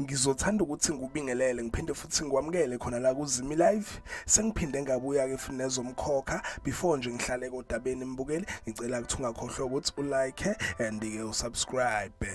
ngizothanda ukuthi ngikubingelele ngiphinde futhi ngikwamukele khona la kuzimi live sengiphinde ngabuya-ke futhi nezomkhokha before nje ngihlale kodabeni mbukeli ngicela ukuthi ungakhohlwa ukuthi ulike and-ke usubscribe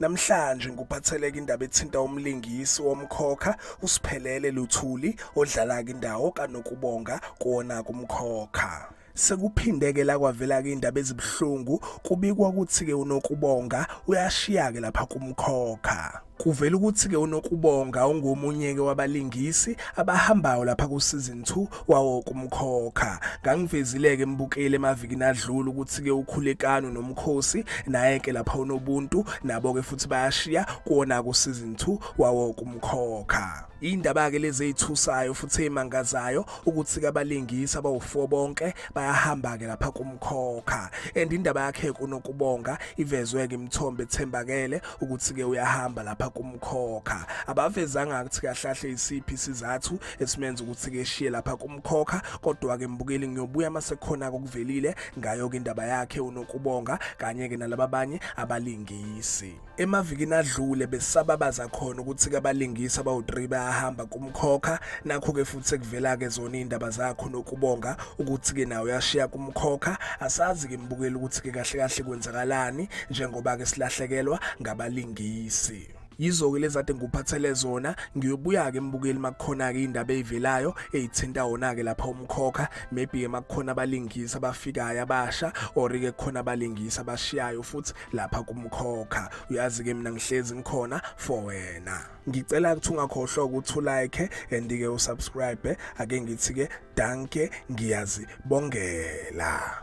Namhlanje ngikuphatheleke indaba ethinta umlingisi womkhokha uSiphelele Luthuli odlala-ke indawo kaNokubonga kuwona kumkhokha. Sekuphindeke la kwavela-ke indaba ezibuhlungu kubikwa ukuthi-ke uNokubonga uyashiya-ke lapha kumkhokha. Kuvela ukuthi-ke uNokubonga ungomunye-ke wabalingisi abahambayo lapha ku-season 2 wawo kumkhokha ngangivezileke embukele emavikini adlula ukuthi ke ukhulekano nomkhosi naye ke lapha unobuntu nabo ke futhi bayashiya kuona ku season 2 wawo kumkhokha indaba ke lezi ezithusayo futhi emangazayo ukuthi kabalingisi abawu4 bonke bayahamba ke lapha kumkhokha and indaba yakhe kunokubonga ivezwe ke imthombe ethembakele ukuthi ke uyahamba lapha kumkhokha abavezanga ukuthi kahlahle isiphi sizathu esimenza ukuthi ke shiye lapha kumkhokha kodwa ke mbukeli ngiyobuya masekhona kokuvelile ngayo ke indaba yakhe unokubonga kanye ke nalaba banye abalingisi emavikini adlule besababaza khona ukuthi ke abalingisi abawu3 bayahamba kumkhokha nakho ke futhi kuvela ke zona indaba zakho nokubonga ukuthi ke nawe yashiya kumkhokha asazi ke mbukeli ukuthi ke kahle kahle kwenzakalani njengoba ke silahlekelwa ngabalingisi yizo-ke lezi ade ngikuphathele zona ngiyobuya-ke mbukeli makukhona-ke indaba eyivelayo eyithinta wona-ke lapha umkhokha maybe-ke makukhona abalingisi abafikayo abasha or-ke kukhona abalingisi abashiyayo futhi lapha kumkhokha uyazi-ke mina ngihlezi ngikhona for wena ngicela ukuthi ungakhohlwa ukuthi ulike and-ke usubscribe ake ngithi-ke danke ngiyazibongela